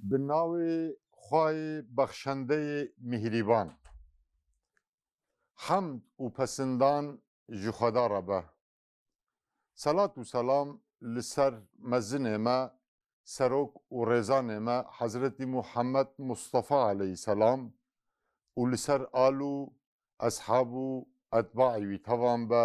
بە ناوی خوای بەخشەندەی میهریبان. حەمد و پەسندان ژی خودا رە بە. سەلات و سەلام لە سەر مەزنێ مە سەرۆک و رێزانێ مە حەزرەتی موحەمەد موستەفا عەلەیهی سەلام و لە سەر ئال و ئەسحاب و ئەتباعی وی تەوان بە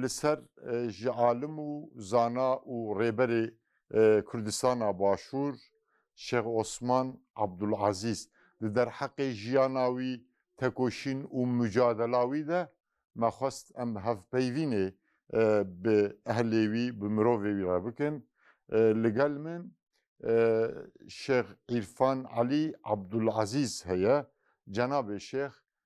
لسەر ژ عالم و زانا و رێبەرێ کوردستانا باشوور شێخ عوسمان عەبدولعەزیز دە دەرحەقێ ژیانا وی، تەکۆشین و موجادەلا وی دە، مە خوەست ئەم هەڤپەیڤینێ ب ئەهلێ وی ب مرۆڤێ وی رە بکن. لگەل من شێخ عیرفان عەلی عەبدولعەزیز هەیە، جەنابێ شێخ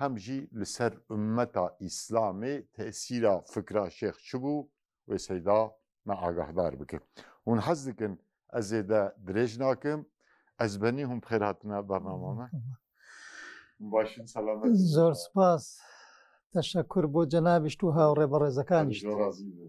هەم ژی لە سەر ئوممەتا ئیسلامێ تەئسیرا فکرا شێخ چ بوو وێ سەیدا مە ئاگاهدار بکەێ. هون حەز دکن ئەز زێدە درێژ ناکم ئەز بەنی هون بخێر هاتنە بەرنامامە. باشن سەلامەت بن. زۆر سپاس تەشەکور بۆ جەنابیشت و هاوڕێ بەڕێزەکانیشت. زۆر ڕازی بوو.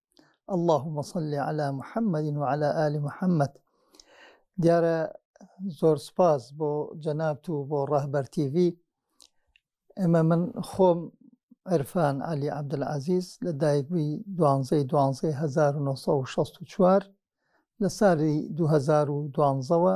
اللهم صل على محمد وعلى آل محمد دیارە زۆر سپاس بۆ جەنابت و بۆ ڕەهبەر تیV ئێمە من خۆم عرفان علی عبدالعزیز لە دایکبووی دوانزەی دوانزەی 1964 لە سالی 2012ەوە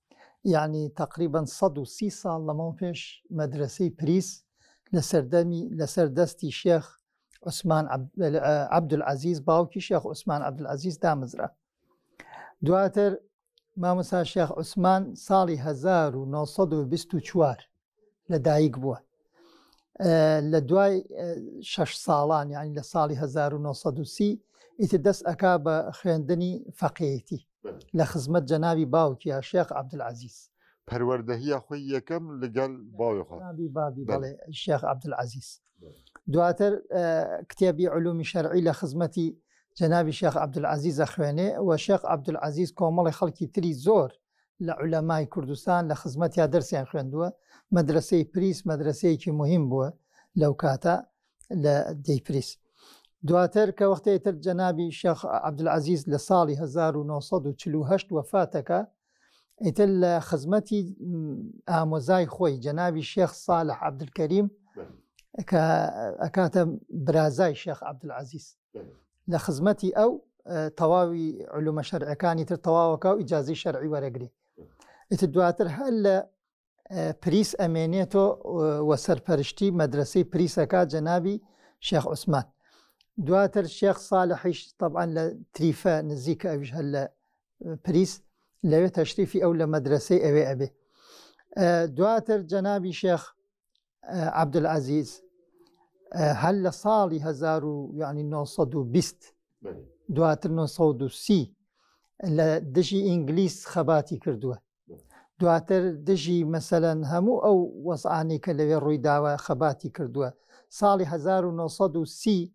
یەعنی تەقریبەن سەد و سی ساڵ لەمەو پێش مەدرەسەی پریس لە سەردەمی لە سەر دەستی شێخ عوسمان عەبدولعەزیز باوکی شێخ عوسمان عەبدولعەزیز دامزرا دواتر مامۆسا شێخ عوسمان ساڵی 1924 لە دایک بووە لە دوای شش ساڵان یعنی لە ساڵی 1930 ئیتر دەست ئەک بە خوێندنی فەقێتی لە خزمەت جەناوی باوکیە شێخ عبدعزیز پەروەردەهە خۆی یەکەم لەگەل باوی شێخ عبدعزیز دواتر کتێبی علومی شەرعی لە خزمەتی جەناوی شێخ عبدعزیزە خوێنێ و شێخ عبدعزیز کۆمەڵی خەڵکی تری زۆر لە عولەمای کوردستان لە خزمەتیا دەرسیان خوێندووە، مەدرەسەی پریس مەدرەسەیەکی موهیم بووە لەو کاتە لە دێی پریس. دواتر کە وەختەی تر جەنابی شێخ عەبدولعەزیز لە ساڵی 1948 وەفات دەکا، ئیتر لە خزمەتی م، ئامۆزای خۆی جەنابی شێخ ساڵح عەبدولکەریم کە ئەکاتە برازای شێخ عەبدولعەزیز. لە خزمەتی ئەو تەواوی علومە شەرعەکانی تر تەواوەکە و ئیجازی شەرعی وەرەگری ئیتر دواتر هەر لە پریس ئەمێنێتۆ وە سەرپەرشتی مەدرسەی پریسەکە جەنابی شێخ عوسمان دواتر شێخ ساالحیش طبعاان لە تریفە نزیکە ئەوش هەر لە پریس لەوێ تەشریفی ئەو لە مەدرسەی ئەوێ ئەبێ دواتر جەنابی شێخ عبدعزیز هەر لە ساڵی 1920 دواتر 1930 لە دژی ئینگلیس خەباتی کردووە دواتر دژی مەسەەن هەموو ئەو وەزعانی کە لەوێ ڕووی داوە خەباتی کردووە ساڵی 1930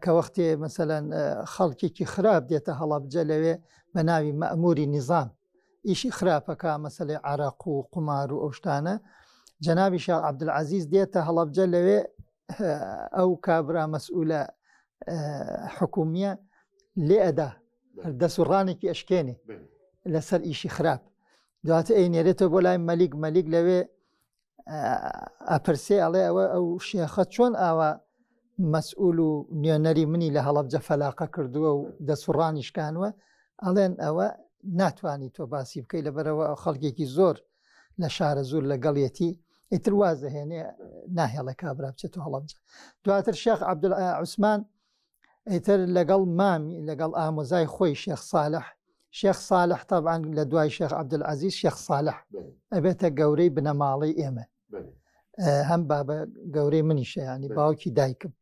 کە وەختێ مەسەەن خەڵکێکی خراپ دێتە هەڵەبجە لەوێ بە ناوی مەموری نیزان ئیشی خراپەکە مەسلەی عراق و قومار و ئەوشتانە جەنابی شا عبدعزیز دێتە هەڵبجە لەوێ ئەو کابرا مەسئولە حکومیە لێ ئەدا دەست و ڕانێکی ئەشکێنێ لەسەر ئیشی خراپ دواتە ئەی نێرێتەوە بۆ لای مەلیک مەلیک لەوێ ئەپرسێ ئەڵێ ئەوە ئەو شێخە چۆن ئاوا مەسئول و نوێنەری منی لە هەڵەبجە فەلاقە کردووە و دەسوڕانی شکانوە ئەڵێن ئەوە ناتانی تۆ باسی بکەی لەبەرەوە ئەو خەڵکێکی زۆر لە شارە زۆر لەگەڵیەتی ئیتر واز دەهێنێ ناهێڵە کابرا بچێت و هەڵەبجە دواتر شێخ عبدعوسمان ئیتر لەگەڵ مامی لەگەڵ ئامۆزای خۆی شێخ ساالح شێخ ساالح تابان لە دوای شێخ عبدعزیز شێخ ساالح ئەبێتە گەورەی بنەماڵەی ئێمە هەم بابە گەورەی منیشەیانی باوکی دایکم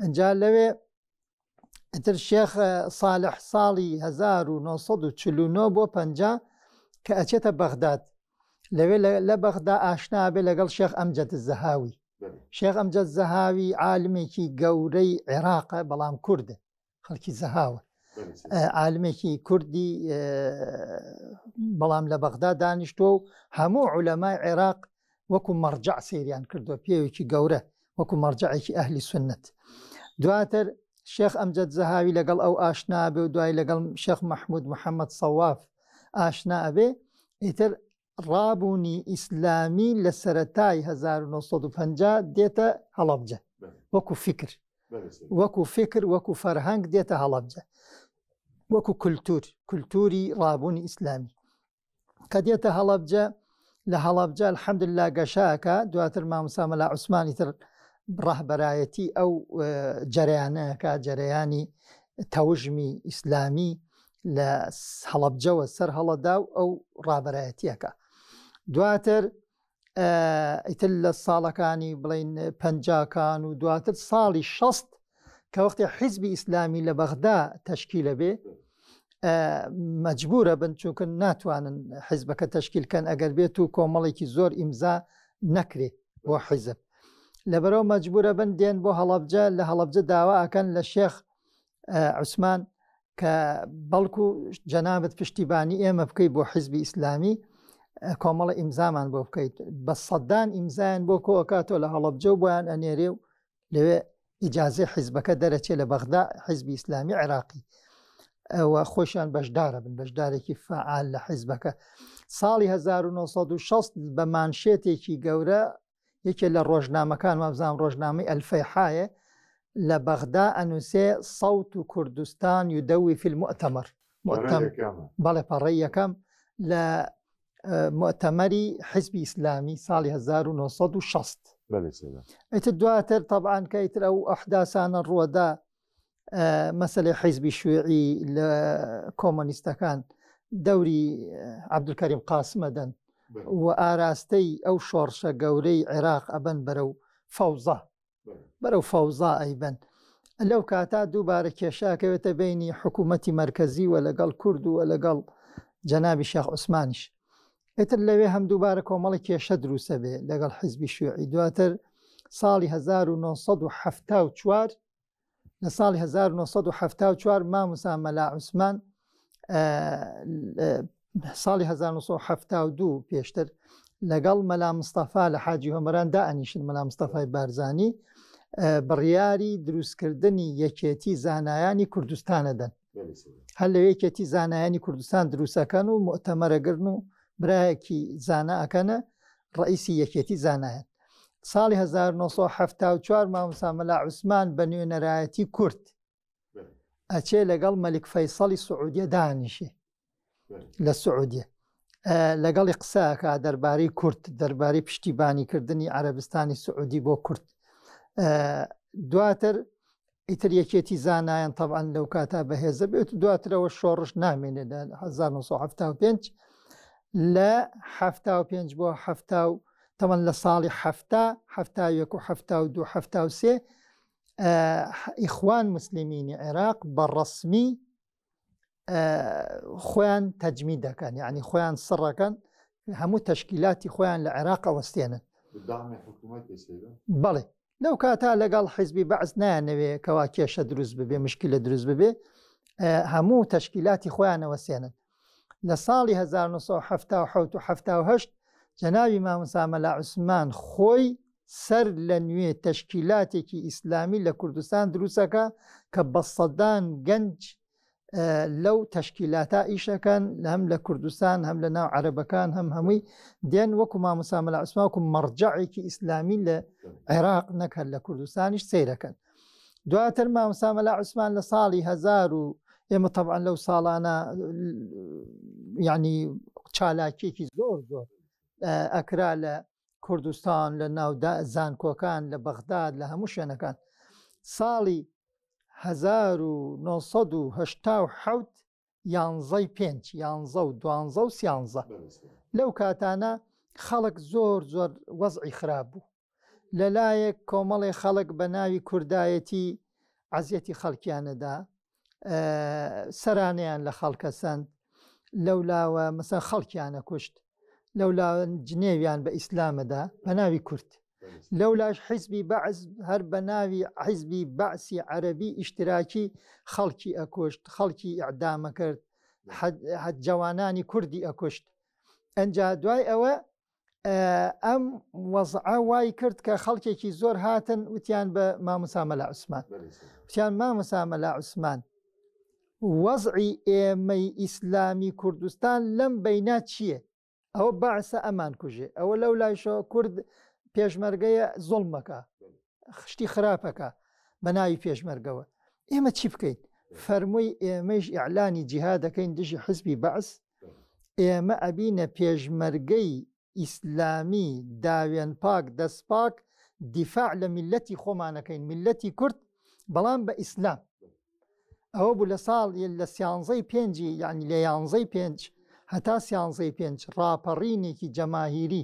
ئەجا لەوێ ئیتر شێخ ساالح ساڵی 1940 بۆ پ کە ئەچێتە بەغداد لەوێ لە بەغدا ئاشنا بێ لەگەڵ شێخ ئەمجەد زەهاوی شێخ ئەمجەد زەهاوی عالمێکی گەورەی عێراقە بەڵام کوردە خەڵکی زەهاوە عالمێکی کوردی بەڵام لە بەغدا دانیشتووە و هەموو عولەمای عێراق وەکو مەڕجع سریان کردووە پێوێکی گەورە وەکو مەڕجەعێکی ئەهلی سوننەت دواتر شێخ ئەمجەد زەهاوی لەگەڵ ئەو ئاشنا بێ و دوای لەگەڵ شێخ مەحمود محەممەد سەواف ئاشنا ئەبێ ئیتر ڕابوونی ئیسلامی لە سەتای 1950 دێتە هەڵەبجە وەکو فکر وەکو فکر وەکو فەرهەنگ دێتە هەڵەبجە وەکو کولتور کولتوری ڕابوونی ئیسلامی کە دێتە هەڵەبجە لە هەڵەبجە الحمد لله گەشاکە دواتر ماموسا مەلا عوسمانی تر ڕەهبەرایەتی ئەو جەریانەکە جەرەیانی تەوژمی ئیسلامی لە هەڵەبجەوە سەر هەڵەدا و ئەو ڕابەرایەتیەکە دواتر ئیتر لە ساڵەکانی بڵین پەنجاکان و دواتر ساڵی شەست کە وەختی حیزبی ئیسلامی لە بەغدا تەشکیلە بێ مەجبورە بن چونکە ناتوانن حیزبەکە تەشکیلکەن ئەگەر بێت و کۆمەڵێکی زۆر ئیمزا نەکرێ بۆ حیزب لەبەرەوە مەجبورە بن دێن بۆ هەڵبجە لە هەڵبجە داوا ئەکەن لە شێخ عوسمان کە بەڵکو جەنابەت پشتیبانی ئێمە بکەیت بۆ حیزبی ئیسلامی کۆمەڵە ئیمزامان بۆ بکەیت بە سەدان ئیمزایان بۆ کۆکاتۆ لە هەڵبجە و بۆیان ئەنێرێ و لەوێ ئیجاازی حیزبەکە دەرەچێت لە بەغدا حیزبی ئیسلامی عێراقی ئەوە خۆشیان بەشدارە بن بەشدارێکی فعال لە حیزبەکە ساڵی 1960 بە مانشێتێکی گەورە یەکێ لە ڕۆژنامەکان وابزانام ڕۆژنامەی ئەلفەیحاێ لە بەغدا ئەنووسێ سەوت و کوردستان و دەوی فیلم ئەتەمەر بەڵێ پەڕی یەکەم لە مؤتەمەری حزبی ئیسلامی ساڵی 1960 ئەیتر دواتر طبعاان کە ئیتر ئەو ئەحداسانە ڕووەدا مەسەلەی حیزبی شوێعی لە کۆمەنیستەکان دەوری عبدکەریم قاسمە دەن و ئاراستەی ئەو شۆڕشە گەورەی عێراق ئەبەن بەرە و فەوزا بەرە و فەوزا ئەیبەن لەو کاتا دووبارە کێشاکەوێتە بینی حکوومەتی مرکزی و لەگەڵ کورد و لەگەڵ جەنابی شاخ عوسمانیش ئیتر لەوێ هەم دووبارە کۆمەڵی کێشە دروستە بێ لەگەڵ حیزبی شوێعی دواتر ساڵی 1970 لە ساڵی 1970 ماموسا مەلا عوسمان ساڵی 1970 پێشتر لەگەڵ مەلا مستەفا لە حاجی هۆمەران دا ئەنیشن مەلا مستەفای بارزانی بڕیاری دروستکردنی یەکێتی زانایانی کوردستانەدەن هەر لە یەکێتی زانایانی کوردستان دروستەکەن و مؤتەمەرەگرن و برایەکی زانا ئەکەنە ڕئیسی یەکێتی زانایەت ساڵی 1970 مامۆسا مەلا عوسمان بە نوێنەرایەتی کورد ئەچێ لەگەڵ مەلک فەیسەڵی سعودیە دانیشێ لە سعودیە لەگەڵی قسەکە دەربارەی کورد دەربارەی پشتیبانیکردنی عەربستانی سعودی بۆ کورد دواتر ئیتر یەکێتی زانایان طبعاان لەو کاتا بەهێزە بێت دواترەوە شۆڕش نامێنێت لە 1975 لە 5 بۆ تەمەەن لە ساڵی هەفتا هەفتا یەک و هەفتا و دو هەفتا و سێ ئیخوان مسللیمینی عێراق بە ڕسمی خۆیان تەجمی دەکەن یعنی خۆیان سڕەکەن هەموو تەشکیلاتی خۆیان لە عێراق ئەوەستێنن بەڵێ لەو کاتا لەگەڵ حیزبی بەعس نایانەوێ کەوا کێشە دروست ببێ مشکی لە دروست ببێ هەموو تەشکیلاتی خۆیانەوە سێنن لە ساڵی 1970 جەناوی مامسامەلا عوسمان خۆی سەر لە نوێ تەشکیلاتێکی ئیسلامی لە کوردستان دروستەکا کە بە سەدان گەنج لەو تەشکیلاتە ئیشەکەن هەم لە کوردستان هەم لە ناو عەربەکان هەم هەمووی دێن وەکو مامۆسامە لە عسماکو مەڕجعێکی ئیسلامی لە عێراق نەکرد لە کوردستانیش سیرەکەن دواتر مامۆسامە لە عوسمان لە ساڵی هزار و ئێمە طبعاان لەو ساڵانە ینی چالاکیێکی زۆر زۆر ئەکرا لە کوردستان لە ناو زانکۆکان لە بەغداد لە هەموو شوێنەکان ساڵی 1970 یانزەی پێنج یانزە و دوانزە و سیانزە لەو کاتانە خەڵک زۆر زۆر وەزعی خراپ بوو لەلایەک کۆمەڵی خەڵک بە ناوی کوردایەتی عزیەتی خەڵکیانەدا سەرانیان لە خەڵکە سەند لەولاوە مەسە خەڵکیانە کوشت لەولا جنێویان بە ئیسلامەدا بە ناوی کورد لەولاش حیزبی بەعز هەر بە ناوی حیزبی بەعسی عەربی ئیشتراکی خەڵکی ئەکوشت خەڵکی ئەعدامە کرد جوانانی کوردی ئەکوشت ئەجا دوای ئەوە ئەم وەزعە وای کرد کە خەڵکێکی زۆر هاتن وتیان بە ماموسامەلا عوسمان وتیان ماموسامەلا عوسمان وەزعی ئێمەی ئیسلامی کوردستان لەم بەینا چییە؟ ئەوە بەعسە ئەمان کوژێ ئەوە لەو لایشەوە کورد پێشمەرگەیە زۆڵمەکە خشتی خراپەکە بە ناوی پێشمەرگەوە ئێمە چی بکەین فەرمووی ئێمەش ئیعلانی جیها دەکەین دژی حزبی بەعس ئێمە ئەبینە پێشمەرگەی ئیسلامی داوێن پاک دەست پاک دیفاع لە میلەتی خۆمانەکەین میلەتی کورد بەڵام بە ئیسلام ئەوە بوو لە ساڵ لە سیانزەی پێنجی یعنی لە یانزەی پێنج هەتا سیانزەی پێنج ڕاپەڕینێکی جەماهیری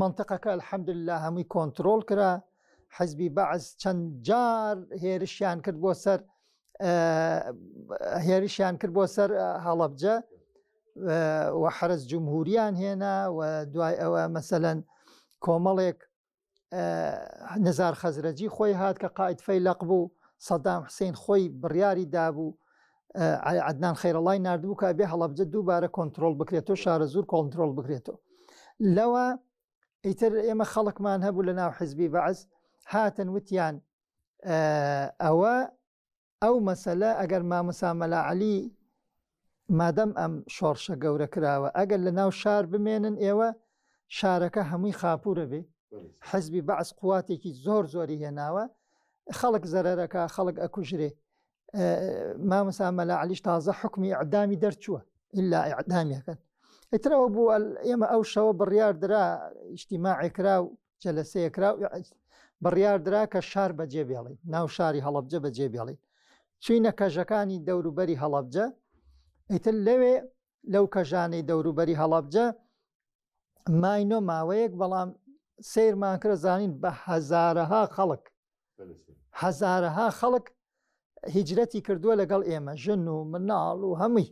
منتەقەکە الحمد للە هەمووی کۆنتترۆل کرا حزبی بەعز چەند جار هێرشیان کرد بۆ سەر هێرشیان کرد بۆ سەر هەڵەبجە و حرس جمهوریان هێنا و دوای ئەوە مەسەەن کۆمەڵێک نزار خەزرەجی خۆی هات کە قائد فەیلەق بوو سەدام حسین خۆی بڕیاری دابوو عدنان خەیرەڵای نردبوو کە بێ هەڵبجە دووبارە کۆنتترۆل بکرێتەوە شارە زور کۆنتترۆل بکرێتەوە لەوە ئیتر ئێمە خەڵکمان هەبوو لە ناو حزبی بەعز هاتن وتیان ئەوە ئەو مەسەلە ئەگەر ماموسا مەلا عەلی مادەم ئەم شۆڕشە گەورە کراوە ئەگەر لە ناو شار بمێنن ئێوە شارەکە هەمووی خاپورە بێ حزبی بەعس قواتێکی زۆر زۆری هێناوە خەڵک زەرەرەکە خەڵک ئەکوژرێ ماموسا مەلا عەلیش تازە حکمی ئەعدامی دەرچووە ئللا ئەعدامیەکەن ئیترەوە بوو ئێمە ئەو شەوە بڕیاردرا ئیشتیماعێکرا و جەلەسەیەکرا و بڕیاردرا کە شار بەجێ بێڵی ناو شاری هەڵبجە بەجێ بێڵی چینە کەژەکانی دەوروبەری هەڵبجە ئیتر لەوێ لەو کەژانەی دەوروبەری هەڵبجە ماینۆ ماوەیەک بەڵام سیرمان کرە زانین بە هەزارەها خەڵک هەزارەها خەڵک هیجرەتی کردووە لەگەڵ ئێمە ژن و مناڵ و هەمووی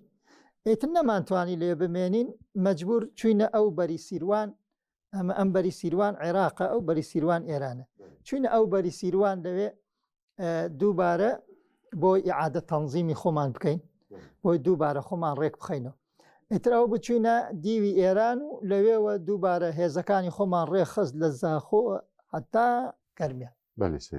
ئیتر نەمانتوانی لێ بمێنین مەجبور چوینە ئەو بەری سیروان ئەمە ئەم بەری سیروان عێراقە ئەو بەری سیروان ئێرانە چونە ئەو بەری سیروان دەوێ دووبارە بۆی ئعادە تەنزیمی خۆمان بکەین بۆی دووبارە خۆمان ڕێک بخینەوە ئیتراو بچوینە دیوی ئێران و لەوێوە دووبارە هێزەکانی خۆمان ڕێخست لە زاخۆ حتا گەرمیان بەێ سێ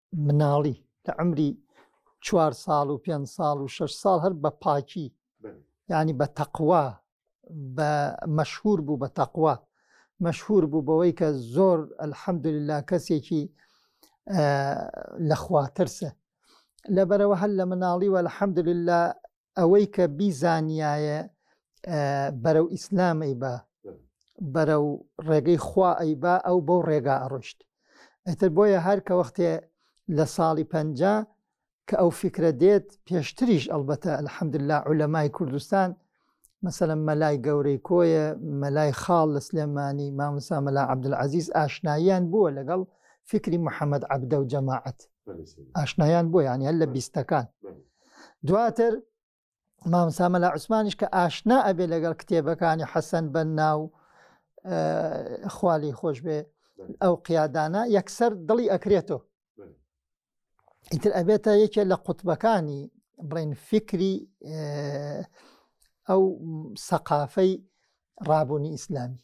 مناڵی لە عمری چوار ساڵ و پێنج ساڵ و شش ساڵ هەر بە پاکی ینی بە تەقوا بە مەشهور بوو بە تەقوا مەشهور بوو بەوەی کە زۆر ئەلحەمدللا کەسێکی لەخواترسە لەبەرەوە هەر لە مناڵی وە الحەمدللا ئەوەی کە بیزانیایە بەرەو ئیسلام ئەیبا بەرەو ڕێگەی خوا ئەیبا ئەو بەو ڕێگا ئەڕۆشت ئەتر بۆیە هەر کە وەختێ لە ساڵی پەنج کە ئەو فکرە دێت پێشتریش ئەلبەتە الحەمدللا عولەمای کوردستان مەسەلم مەلای گەورەی کۆیە مەلای خاڵ لە سلێمانی مامسا مەلا عبدعزیز ئاشناییان بووە لەگەڵ فکری محەممەد عبدە و جەماعەت ئاشنایان بۆ یان هەر لە بیستەکان دواتر مامسامە لە عوسمانیش کە ئاشنا ئەبێ لەگەڵ کتێبەکانی حەسەن بە ناو خوالی خۆش بێ ئەو قیادانە یەکسەر دڵی ئەکرێتەوە ئیتر ئەبێتە یەکێ لە قوتبەکانی بڵێن فکری ئەو سەقافەی ڕابوونی ئیسلامی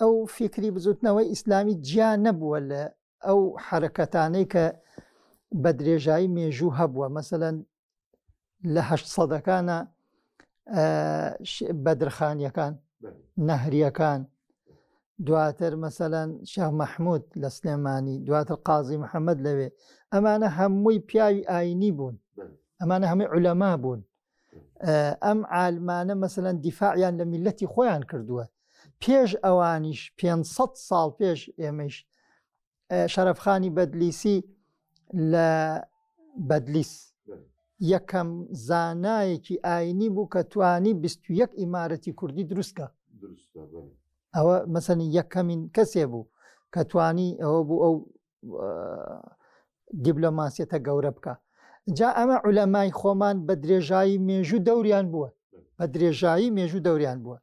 ئەو فیکری بزوتنەوەی ئیسلامی جیا نەبووە لە ئەو حرەکەتانەی کە بە درێژایی مێژوو هەبووە مەسەەن لە هەشت سەدەکانە بەدرخانیەکان نەهریەکان دواتر مەسەەن شێخ مححمود لە سلێمانی دواتر قازی محەممەد لەوێ ئەمانە هەمووی پیاوی ئاینی بوون ئەمانە هەمووی علەما بوون ئەم عالمانە مەسەەن دیفاعیان لە میلەتی خۆیان کردووە پێش ئەوانیش 500 ساڵ پێش ئێمەش شەرفخانی بەدلیسی لە بەدلیس یەکەم زانایەکی ئاینی بوو کە توانی 21 ئیمارەتی کوردی دروستکە ئەوە مەسەنی یەکەمین کەسێ بوو کە توانی ئەوە بوو ئەو دیبلۆماسیەتە گەورە بکە جا ئەمە عولەمای خۆمان بە درێژایی مێژوو دەوریان بووە بە درێژایی مێژوو دەوریان بووە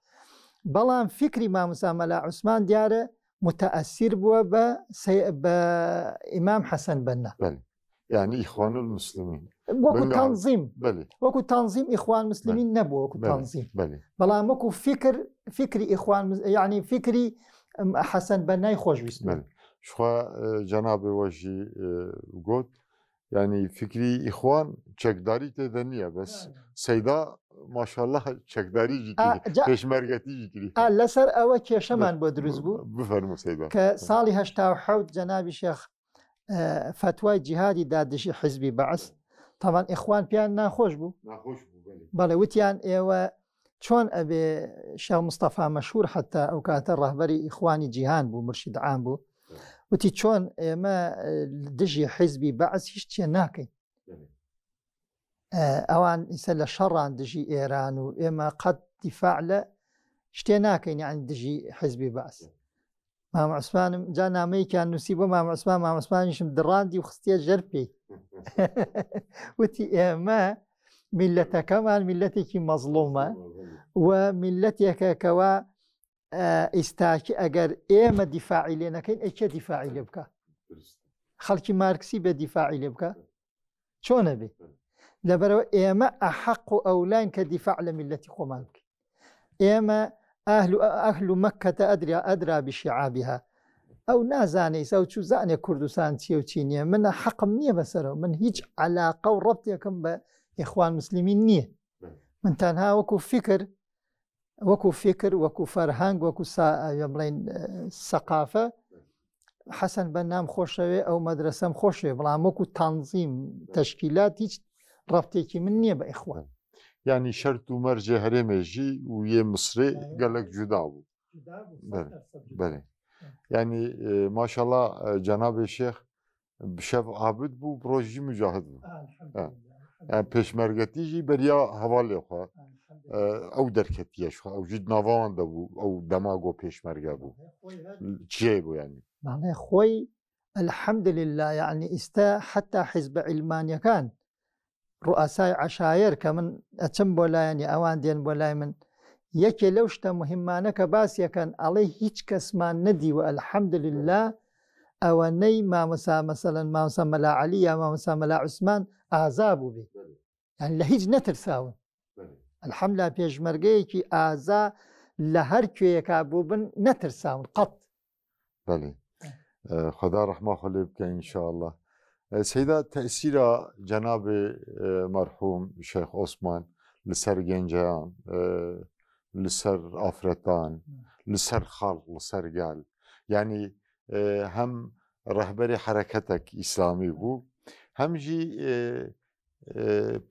بەڵام فکری ماموسامەلا عوسمان دیارە متەئەسیر بووە بە بە ئیمام حەسەن بەنە یعنی ئیخوان المسلمین وەکو تەنزیم وەکو تەنزیم ئیخوان مسلمین نەبوو وەکو تەنزیم بەڵام وەکو فکر فکری ئیخوان یعنی فکری حەسەن بە نای خۆشویست شخوا جەنابێ وەژی گوت ینی فکری ئیخوان چەکداری تێدە نییە بەس سەیدا ماشاءله چەکداری پێشمەرگەتی لەسەر ئەوە کێشەمان بۆ دروست بوو بفەرمو سەیدا کە ساڵی هەشتا حوت جەنابی شێخ فتوای جیهادی دا دژی حزبی بەعس تاوان ئیخوان پیان ناخۆش بوو بەڵێ وتیان ئێوە چۆن ئەبێ شە مستەفا مەشهور حتا ئەو کاتە ڕهبەری ئیخوانی جیهان بوو مرشید عام بوو وتی چۆن ئێمە دژی حزبی بەعس هیچ چێ ناکەین ئەوان ئیسە لە شەڕان دژی ئێران و ئێمە قەت دیفاع لە شتێ ناکەین یان دژی حزبی باس مامەسمانم جا نامەیەکیان نووسی بۆ مامەسمان مامەسمانیشم دڕاندی و خستە ژەر پێی وتی ئێمە میلەتەکەمان میلەتێکی مەزڵومە و میلەتێکەکەەوە ئیستاکی ئەگەر ئێمە دیفاعی لێ نەکەین ئەکێ دیفاعی لێ بکە خەڵکی مارکسی بە دیفاعی لێ بکە چۆنە بێ لەبەرەوە ئێمە ئەحەق و ئەولاین کە دیفاع لە میلەتی خۆمان بکەین ئێمە ئاهل و ئەهل و مەکەتە ئەدریا ئەدرا بشیعابیها ئەو نازانێ ئەو چوو زانێ کوردستان چیە و چی نییە منە حەقم نییە بەسەرەوە من هیچ علاقە و ڕەتێکم بە یخوان مسللمین نییە من تەنها وەکو فکر وەکو فکر وەکو فەرهەنگ وەکو بڵین سەقافە حەسەن بە نام خۆشەوێ ئەو مەدرسەم خۆشێ بڵام وەکو تانزیم تەشکیلات هیچ ڕفتێکی من نییە بە ئیخوان ینی شەرت و مەرجێ هەرێمێژی و یێ مسرێ گەلک جودا بوو بەێ ینی ماشەڵا جەنابێ شێخ شەف عابد بوو ڕۆژی مجاهد بوو پێشمەرگەتیژی بەریا هەوا لێخوا ئەو دەرکەتیەش ئەو ژید ناوان دەبوو ئەو دەماگۆ پێشمەرگە بوو چێ بوو ینی مانای خۆی الحمد لله یعنی ئیستا حتا حیزبە عیلمانیەکان ڕوئەسای عەشایەر کە من ئەچم بۆ لایانی ئەوان دێن بۆ لای من یەکێ لەو شتە مهمانە کە باسیەکەن ئەڵێ هیچ کەسمان نەدیوە الحمد لله ئەوەنەی مامەسا مەسەەن مامسا مەلا علی یا مامەسا مەلا عوسمان ئازا بوو بێ یان لە هیچ نەترساون الحملا پێشمەرگەیەکی ئازا لە هەر کوێیەکە بوو بن نەترساون قەت بەێ خدا ڕحما خۆ لێ بکە ئینشاءله سەدا تەسیرا جەنابێ مەرحوم شێخ ئۆسمان لەسەر گەنجیان لەسەر ئافرەتان لەسەر خاڵ لەسەر گال ینی هەم ڕەهبەری حرەکەتێک ئیسلامی بوو هەمژی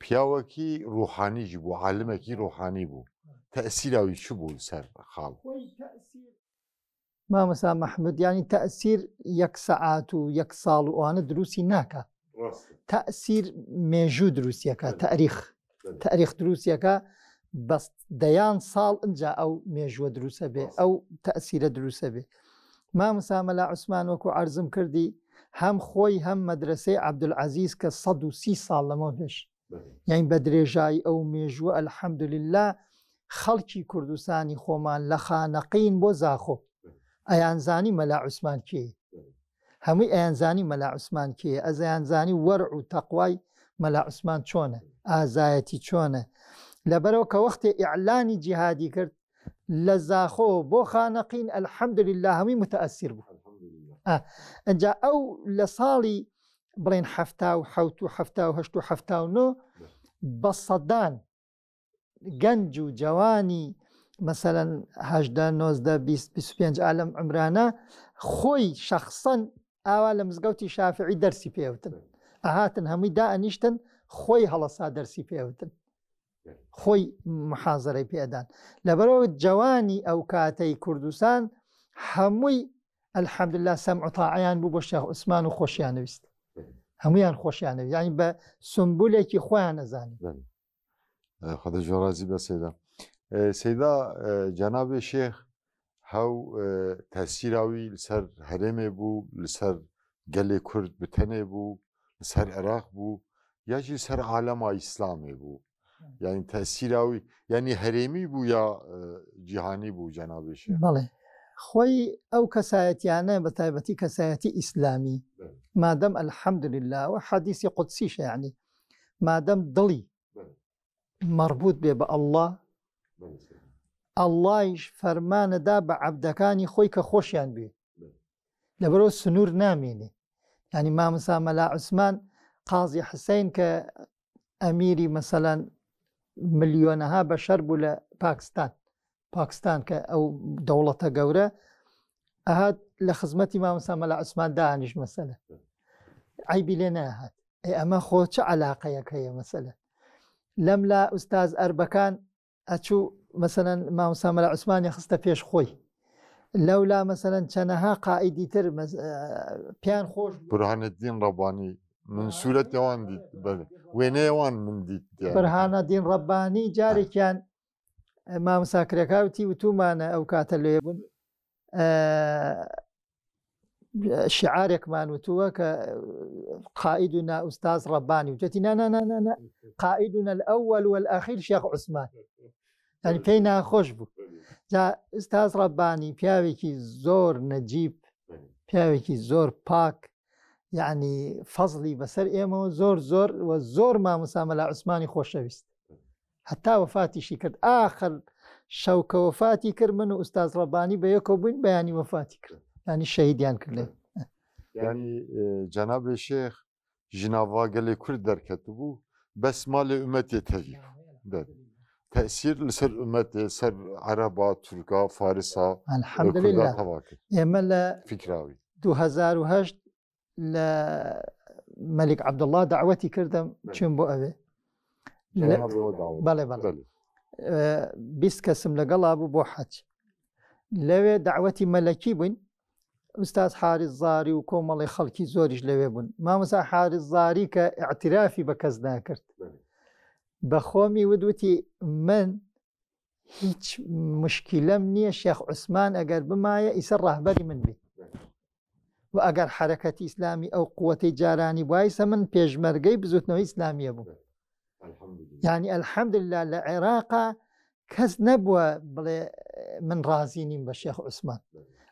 پیاوەکی ڕوحانیش بوو عالمێکی ڕوحانی بوو تەسیراوی چ بوو سەر خاڵ مامەسا مححمود ینی تەسیر یەک سەعات و یەک ساڵ و ئەوانە دروستی ناکە تەسیر مێژوو دروستیەکە تاریخ تاریخ دروستیەکە بەس دەیان ساڵ ئەجا ئەو مێژووە دروسە بێ ئەو تەسیرە دروسە بێ مامسامەلا عوسمان وەکو عرضم کردی هەم خۆی هەم مەدرسەی عبدولعزیز کە 130 ساڵ لەمە پێش یانی بە درێژایی ئەو مێژووە الحمدللە خەڵکی کوردستانی خۆمان لە خانەقین بۆ زاخۆ ئەیانزانی مەلا عوسمان کێ هەمووی ئەیانزانی مەلا عوسمان کێ ئەزیانزانی وەرع و تەقوای مەلا عوسمان چۆنە ئازایەتی چۆنە لەبەرەوە کە وەختێ ئیعلانی جیهادی کرد لە زاخۆ بۆ خانەقین الحمدللە هەمووی متەئەسیر بوو ئا ئەجا ئەو لە ساڵی بڵێن حەفتا و حەوت و حەفتا و هەشت و حەفتا و نۆ بە سەدان گەنج و جەوانی مەسەەن هەدە نۆزدە پێنج ئالم ئەمرانە خۆی شەخصەن ئاوا لە مزگەوتی شافعی دەرسی پێوتن ئەهاتن هەمووی دا ئەنیشتن خۆی هەڵەسا دەرسی پێوتن خۆی محازرەی پێدان لەبەرەوە جوانی ئەو کاتەی کوردستان هەمووی ئەلحەمدللا سەم عتاعیان بوو بۆ شێخ عوسمان و خۆشیانویست هەمویان خۆشیانەوی ینی بە سمبولێکی خۆیان نەزانانی خدە جۆرازی بە سێدا سێدا جەنابێ شێخ هاو تاسیراوی لەسەر هەرێمێ بوو لەسەر گەلێ کورد بتەنێ بوو لەسەر عێراق بوو یاجی سەر عالەما ئیسلامێ بوو یعنی تاسیراوی یعنی هەرێمی بوو یا جیهانی بوو جەنابێش بڵێ خۆی ئەو کەسایەتیانە بە تایبەتی کەسایەتی ئیسلامی مادەم ئەلحەمدللاوە حەدیسی قودسی شیعنی مادەم دڵی مەڕبووت بێ بە ئەڵڵا، ئەڵڵایش فەرمانە دا بە عەبدەکانی خۆی کە خۆشیان بوێ لەبەرەوە سنوور نامێنێ ینی مامسا مەلا عوسمان قازی حسین کە ئەمیری مەسەلەن ملیۆنەها بەشەر بوو لە پاکستان پاکستان کە ئەو دەوڵەتە گەورە ئەهات لە خزمەتی مامەسا مەلا عوسمان دانیش مەسەلە عیبی لێ ناهات ئێ ئەمە خۆ چ علاقەیەک هەیە مەسەلە لەم لا ئوستاز ئەربەکان ئەچوو مەسەەن مامەسا مەلا عوسمانی خستە پێش خۆی لەولا مەسەەن چەنەها قائیدی تر پیان خۆش برهانەدین ڕەبانی من سوورەت ئەوان دیت وێنەیەوان من دیت برهانە دین ڕەبانی جارێکیان مامساکرەکەوتی وتومانە ئەو کاتە لێ بوون شعارێکمان وتووە کە قائد و ناوستاز ڕەبانی و جەتی نانانانە قائدونە ئەوەل وەل ئاخیر شێخ عوسمان ئەنی پێی ناخۆش بوو جا ئستاز ڕەبانی پیاوێکی زۆر نەجیب پیاوێکی زۆر پاک یعنی فەزلی بەسەر ئێمەوە زۆر زۆر و زۆر ماموسامە لە عوسمانی خۆشەویست هەتا وەفاتیشی کرد ئاخر شەو کە وەفاتی کرد من و ئوستاز ڕەبانی بە یەکەوە بووین بەیانی وەفاتی کرد ینی شەهیدیان کردێ ینی جەنابێ شێخ ژناوا گەلێ کورد دەرکەت بوو بەس مالێ ئومەتێ تەوی تەسیر لەسەر ئومەتێ سەر عەرەبا تورکا فارسا ئێمە لە فکراوی 2010 لە مەلیک عبدله داوەتی کردم چێن بۆ ئەوێ بەڵێ بەڵێ بیست کەسم لەگەڵا بوو بۆ حەچ لەوێ داوەتی مەلەکی بووین ئوستاز حارز زاری و کۆمەڵی خەڵکی زۆریش لەوێ بوون مامەسا حارز زاری کە ئاعترافی بە کەس ناکرد بە خۆمی ودوتی من هیچ مشکیلەم نییە شێخ عوسمان ئەگەر بمایە ئیسە ڕاهبەری من بێت و ئەگەر حرەکەتی ئیسلامی ئەو قوەتەی جارانی وایسە من پێشمەرگەی بزوتنەوەی ئیسلامیە بوو ینی ئەلحەمدللا لە عێراقا کەس نەبووە بڵێ من ڕازی نیم بە شێخ عوسمان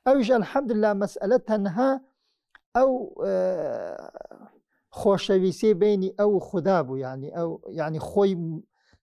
ئەوش ئەلحەمدللا مەسئلە تەنها ئەو خۆشەویستی بینی ئەو خوددا بوو ینی ئەو ینی خۆی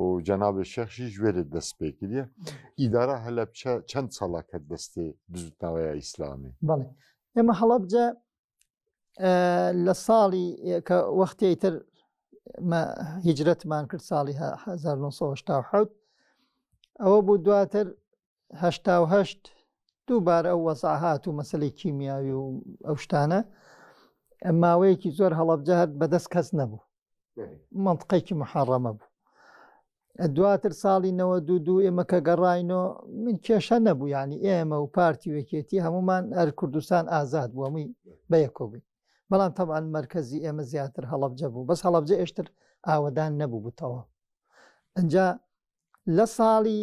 و جەنابێ شێخشی ژێرێت دەست پێ کردە ئیدارە هەلەبچە چەند ساڵەکە دەستێ بزوتنەوەی ئیسلامی بەڵێ ئێمە هەڵەبجە لە ساڵی کە وەختی تر هیجرەتمان کرد ساڵی 1970 ئەوە بوو دواتر هەشتا و هەشت دووبارە ئەو وەزع هات و مەسلەی کیمیاوی و ئەو شتانە ماوەیەکی زۆر هەڵەبجە هەر بەدەست کەس نەبوو منطقێکی محڕەمە بوو دواتر ساڵی نەوە دوو دوو ئێمە کە گەڕاینۆ من کێشە نەبوو ینی ئێمە و پارتی وەکێتی هەمومان ئەر کوردستان ئازاد بووە مووی بەیەکۆبی بەڵام تەمان مرکزی ئێمە زیاتر هەڵبجە بوو بەس هەڵبجە ئێشتر ئاوەدان نەبوو بتەوە ئەجا لە ساڵی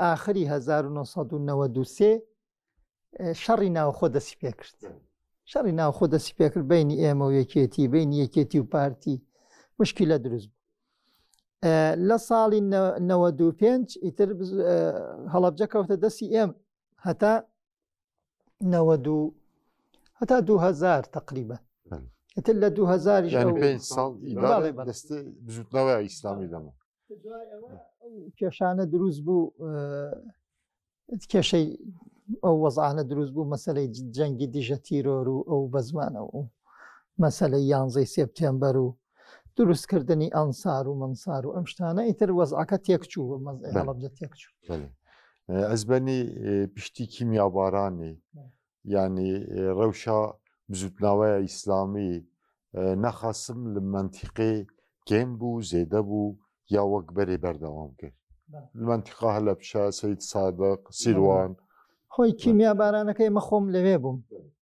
ئاخری 1993 شەڕی ناوخۆ دەسی پێکرد شەڕی ناوخۆ دەسی پێکرد بینی ئێمە و یەکێتی بین یەکێتی و پارتی مشکی لە دروست بوو لە ساڵی 95 ئیتر هەڵبجە کەوتە دەستی ئێم هەتا نەوەد و هەتا دوو هەزار تقریبا ئتر لە دوو هەزاری بزوتنەوە ئیسلامی لەمە کێشانە دروست بوو کێشەی ئەو وەزانە دروست بوو مەسلەی جەنگی دژە تیرۆر و ئەو بەزمانەوە و مەسلەی یانزەی سپتێمبەر و دروستکردنی ئەنسار و منسار و ئەم شتانە ئیتر وەزعەکە تێکچوو مەزڵەبجە تێکچوو ئەزبەنی پشتی کیمیابارانی ینی ڕەوشە بزوتناوەیە ئیسلامی نەخاسم لە منتیقی کێم بوو زێدە بوو یا وەک بەرێ بەردەوام کرد منتیقا هەلە پیشە سید سادق سیروان خۆی کیمیابارانەکەی مەخۆم لەوێ بووم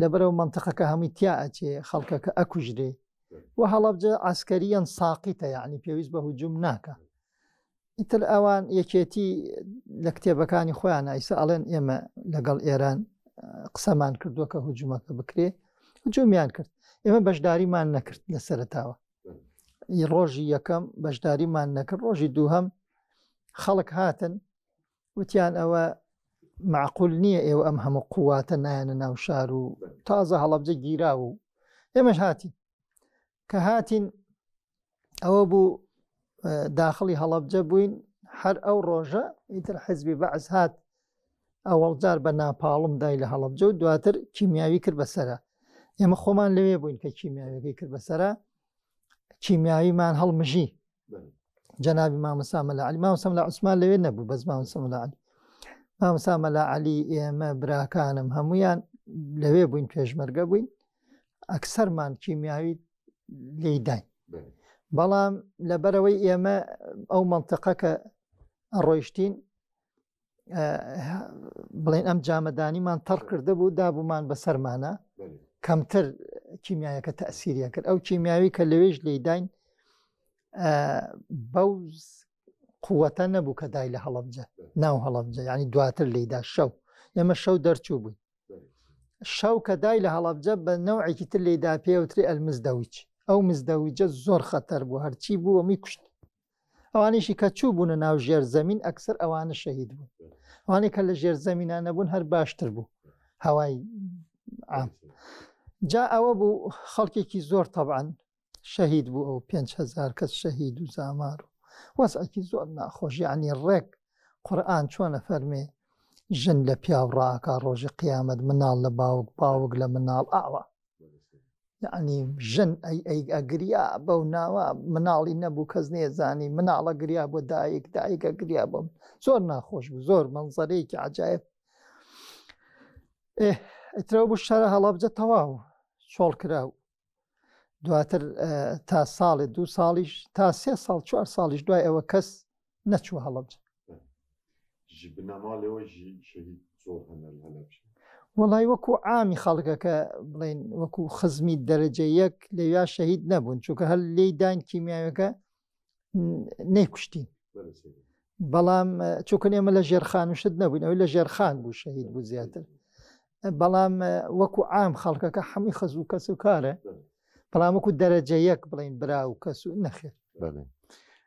لەبەرەوە منتەقەکە هەمووی تیا ئەچێ خەڵکەکە ئەکوژرێ و هەڵبجە ئاسکەریان ساقیتە یعنی پێویست بە هجووم ناکە ئیتر ئەوان یەکێتی لە کتێبەکانی خۆیان ئایسە ئەڵێن ئێمە لەگەڵ ئێران قسەمان کردووە کە هجوومەکە بکرێ هجوومیان کرد ئێمە بەشداریمان نەکرد لە سەرتاوە ڕۆژی یەکەم بەشداریمان نەکرد ڕۆژی دووهم خەڵک هاتن وتیان ئەوە معقول نییە ئێوە ئەم هەموو قوواتە نایەنە ناو شار و تازە هەڵەبجە گیرا و ئێمەش هاتی کە هاتین ئەوە بوو داخلی هەڵەبجە بووین هەر ئەو ڕۆژە ئیتر حزبی بەعز هات ئەوەڵجار بە ناپاڵم دای لە هەڵەبجە و دواتر کیمیاوی کرد بەسرە ئێمە خۆمان لەوێ بووین کە کیمیاویەکەی کرد بەسرە کیمیاویمان هەڵمژی جەنابی مامەسا مەلا علی مامەسەم لە عوسمان لەوێ نەبوو بەس مامەسەم لە علی مامەسا مەلا علی ئێمە براکانم هەمویان لەوێ بووین پێشمەرگە بووین ئەکسەرمان کیمیاوی لێداین بەڵام لەبەرەوەی ئێمە ئەو منتەقەکە ڕۆیشتین بڵێن ئەم جامەدانیمان تەڕ کردە بوو دابوومان بەسەرمانە کەمتر کیمیایەکە تەسیریە کرد ئەو کیمیاوی کە لەوێش لێداین بەو قووەتە نەبوو کە دای لە هەڵبجە ناو هەڵبجە ینی دواتر لێدا شەو ئێمە شەو دەرچوو بووین شەو کە دای لە هەڵبجە بە نەوعێکی تر لێدا پێوتری ئەلمزدەویچ ئەو مزدەویجە زۆر خەتەر بوو هەرچی بوو ئەمی کوشت ئەوانیشی کە چوو بوونە ناو ژێر زەمین ئەکسەر ئەوانە شەهید بوون ئەوانەی کە لە ژێر زەمینان نەبوون هەر باشتر بوو هەوای عام جا ئەوە بوو خەڵکێکی زۆر تەبان شەهید بوو ئەو 5هزار کەس شەهید و زامار و وەسعکی زۆر ناخۆشی عنی ڕێک قورآن چۆنە فەرمێ ژن لە پیاو ڕاکە ڕۆژی قیامەت مناڵ لە باوک باوک لە مناڵ ئاوا یەعنی ژن ئەی ئەی ئەگریا بەو ناوە مناڵی نەبوو کەس نێزانی مناڵە گریا بۆ دایک دایکە گریا بۆم زۆر ناخۆش بوو زۆر منزەرەیەکی عجاایب ئەترەوە بوو شەرە هەڵەبجە تەواو چۆڵ کرا و دواتر تا ساڵێ دوو ساڵیش تا سێ ساڵ چوار ساڵیش دوای ئەوە کەس نەچووە هەڵەبجە وڵی وەکو ئامی خەڵکەکە بڵین وەکو خزمی دەرەجە یەک لەویا شەهید نەبوون چونکە هەر لی داین کیمیاوەکە نەیکوشتین بەڵام چووکن ئێمە لە ژێرخان و شت نەبووین ئەوی لە ژێرخان بوو شەهید بوو زیاتر بەڵام وەکو ئام خەڵکەکە هەمووی خەز و کەس و کارە بەڵام وەکو دەرەجە یەک بڵین برا و کەس و نەخێر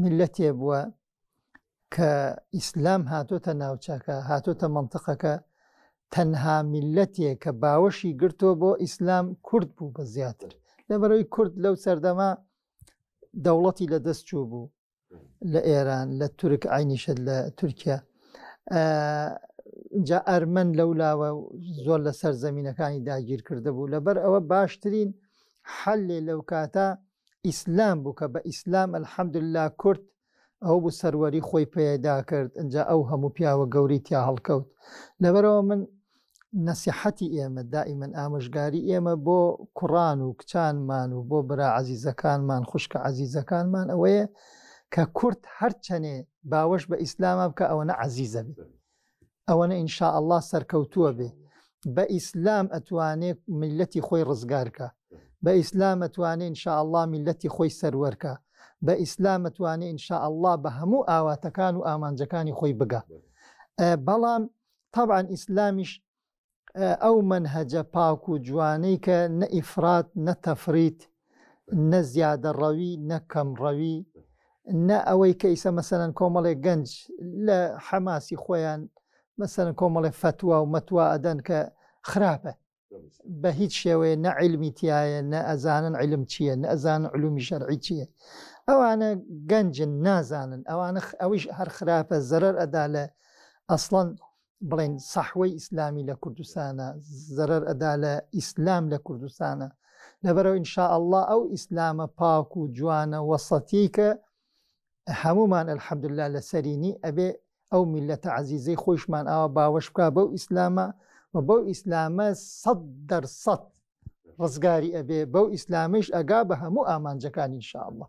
میلەتێ بووە کە ئیسلام هاتۆتە ناوچەکە هاتۆتە منتقەکە تەنها میلەتێ کە باوەشی گرتۆ بۆ ئیسلام کورد بوو بە زیاتر لەبەرەوەی کورد لەو سەردەما دەوڵەتی لە دەست چوو بوو لە ئێران لە تورک عینیشت لە تورکیا جا ئەرمەن لەو لاوە زۆر لەسەر زمینینەکانی داگیر کرده بوو لەبەر ئەوە باشترین حلێ لەو کاتە ئیسلام بوو کە بە ئیسلام الحمدللە کورد ئەوە بوو سەروەری خۆی پەیدا کرد ئینجا ئەو هەموو پیاوە گەورەی تیا هەڵکەوت لەبەرەوە من نەسیحەتی ئێمە دائیمەن ئامۆژگاری ئێمە بۆ کوڕان و کچانمان و بۆ برا عەزیزەکانمان خوشکە عەزیزەکانمان ئەوەیە کە کورد هەرچەنێ باوەش بە ئیسلامە بکە ئەوەنە عەزیزە بێت ئەوەنە ان شاء اللە سەرکەوتووە بێ بە ئیسلام ئەتوانێ میلەتی خۆی ڕزگارکا بە ئیسلام ئەتوانێ ان شاء اللە میلەتی خۆی سەروەرکا بە ئیسلام ئەتوانێ ان شاء اللە بە هەموو ئاواتەکان و ئامانجەکانی خۆی بگا بەڵام طبعا ئیسلامیش ئەو مەنهەجە پاک و جوانەی کە نە ئیفرات نە تەفریت نە زیادە ڕەوی نە کەم ڕەوی نە ئەوەی کە ئیسە مەسەن کۆمەڵێک گەنج لە حەماسی خۆیان مەسەن کۆمەڵێ فتووا و مەتوا ئەدەن کە خراپە بە هیچ شێوەیە نە علمی تایە نە ئەزانن علم چییە نە ئەزان علومی شەرعی چییە ئەوانە گەنجن نازانن ئەوانە ئەویش هەر خراپە زەرەر ئەدا لە ئەسڵەن بڵێن سەحوەی ئیسلامی لە کوردستانە زەرەر ئەدا لە ئیسلام لە کوردستانە لەبەرەوە ئینشاء الله ئەو ئیسلامە پاک و جوانە وەسەتی کە هەمومان الحمدلله لەسەرینی ئەبێ ئەو میلەتە عزیزەی خۆشمان ئاوا باوەش بکە بەو ئیسلامە و بەو ئیسلامە سەد دەرسەد ڕزگاری ئەبێ بەو ئیسلامش ئەگا بە هەموو ئامانجەکانی انشاءالله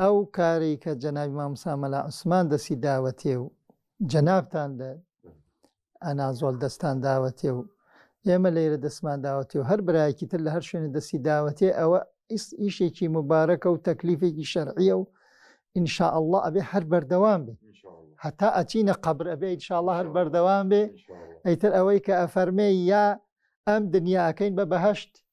ئەو کارەی کە جەنابی مامۆستا مەلا عوسمان دەستی داوەتێ و جەنابتان لە ئەنازۆڵ دەستان داوەتێ و ئێمە لێرە دەستمان داوەتێ و هەر برایەکی تر لە هەر شوێنە دەستی داوەتێ ئەوە ئیشێکی مبارەکە و تەکلیفێکی شەرعیە و ئینشاء الله ئەبێ هەر بەردەوام بێ هەتا ئەچینە قبر ئەبێ ئینشاءله هەر بەردەوام بێ ئەیتر ئەوەی کە ئەفەرمێ یا ئەم دنیاکەین بە بەهشت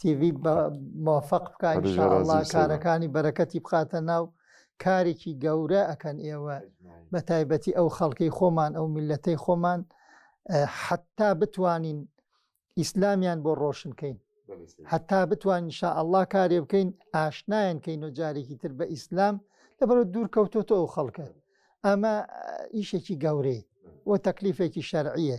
تیڤی مۆفق بکە ئینشاءاللە کارەکانی بەرەکەتی بخاتە ناو کارێکی گەورە ئەکەن ئێوە بە تایبەتی ئەو خەڵکەی خۆمان ئەو میلەتەی خۆمان حتا بتوانین ئیسلامیان بۆ ڕۆشنکەین هەتا بتوان شا ئەلله کارێ بکەین ئاشنایان کەین و جارێکی تر بە ئیسلام لەبەرە دوور کەوتۆتە ئەو خەڵکە ئەمە ئیشێکی گەورەی و تەکلیفێکی شەرعیە